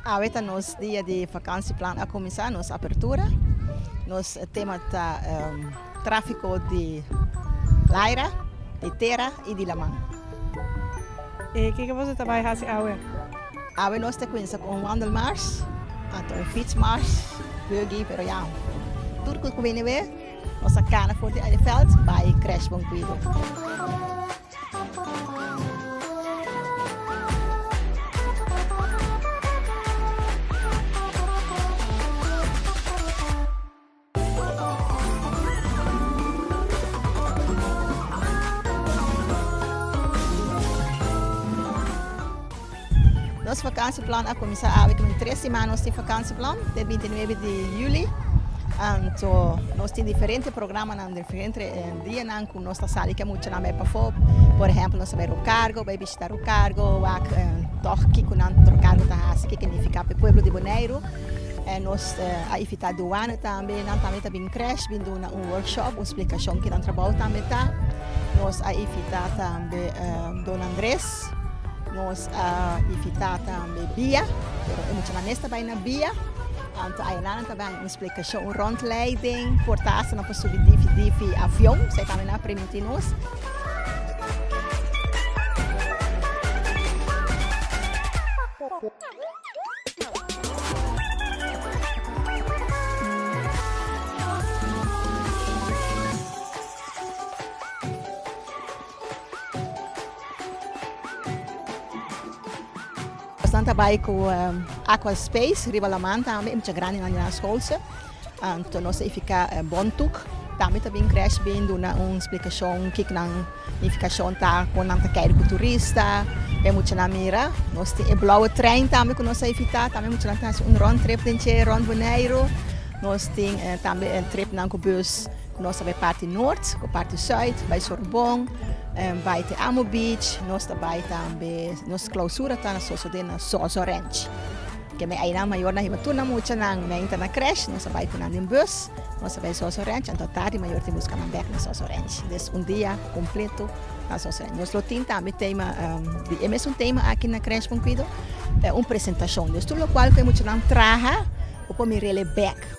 Awe ta nos dia di vakansi plan a kuminsá nos apertura nos tema ta tráfiko di laira di tera i di laman. E kiko boso ta bai hasi awe? Awe nos ta cuinsa cu un wandelmars, anto un fietsmars, buggy, pero ya tur cu wini awe nos ta cana for di Eleveld bay Crash Bon Cuido. Nos vakansieplan a kuminsá awe ten tres simana nos tin vakansieplan te bintinuebe di yuli anto nos tin diferente programanan diferente dianan ku nos ta sali ku e muchanan bai pafó por ehèmpel nos ta bai rokargo bai bishitá rokargo wak tòg kiko nan rokargo ta hasi kiko nifiká pa e pueblo di boneiru. E nos a ifitá duana tambe, nan tambe ta bin krèsh bin duna un workshop, un splikashon kinan trabou tambe ta. Nos a ifitá tambe Don Andres, nos a ifitá tambe bia, pero e muchanan mes ta bai na bia, anto ayunan nan ta bai un splikashon, un rondleiding for ta asta nan por subi difi difi avion, so e tambe nan a primintí nos. Nos ta bai ku Aqua Space riba Laman tambe e mucha grandi nan di nan school. Anto nos a ifiká bon tuk. Tambe ta bin krèsh bin duna un splikashon kiko nan nifikashon ta kon nan ta kède ku turista pa e muchanan mira. Nos tin e blòwe trein tambe ku nos a ifitá, tambe muchanan ta hasi un rònt trip den che rònt Boneiru. Nos tin tambe tripnan ku bus ku nos ta bai parti nort ku parti sùit, bai Sorbon, bai te Amo Beach, nos ta bai tambe nos klausura ta sosodé na Sozo Ranch. Ke mei ainan mayor nan hiba tur nan mucha nan mei ta na cresh nos a bai ku nan den bus nos a bai soso ranch anto tardi mayor tin buska nan bek na soso ranch des un dia kompleto na soso ranch nos lo tin tambe tema di e mesun tema aki na cresh bon cuido e un presentashon des tur lo cual cu e mucha nan traha bo por mirele bek.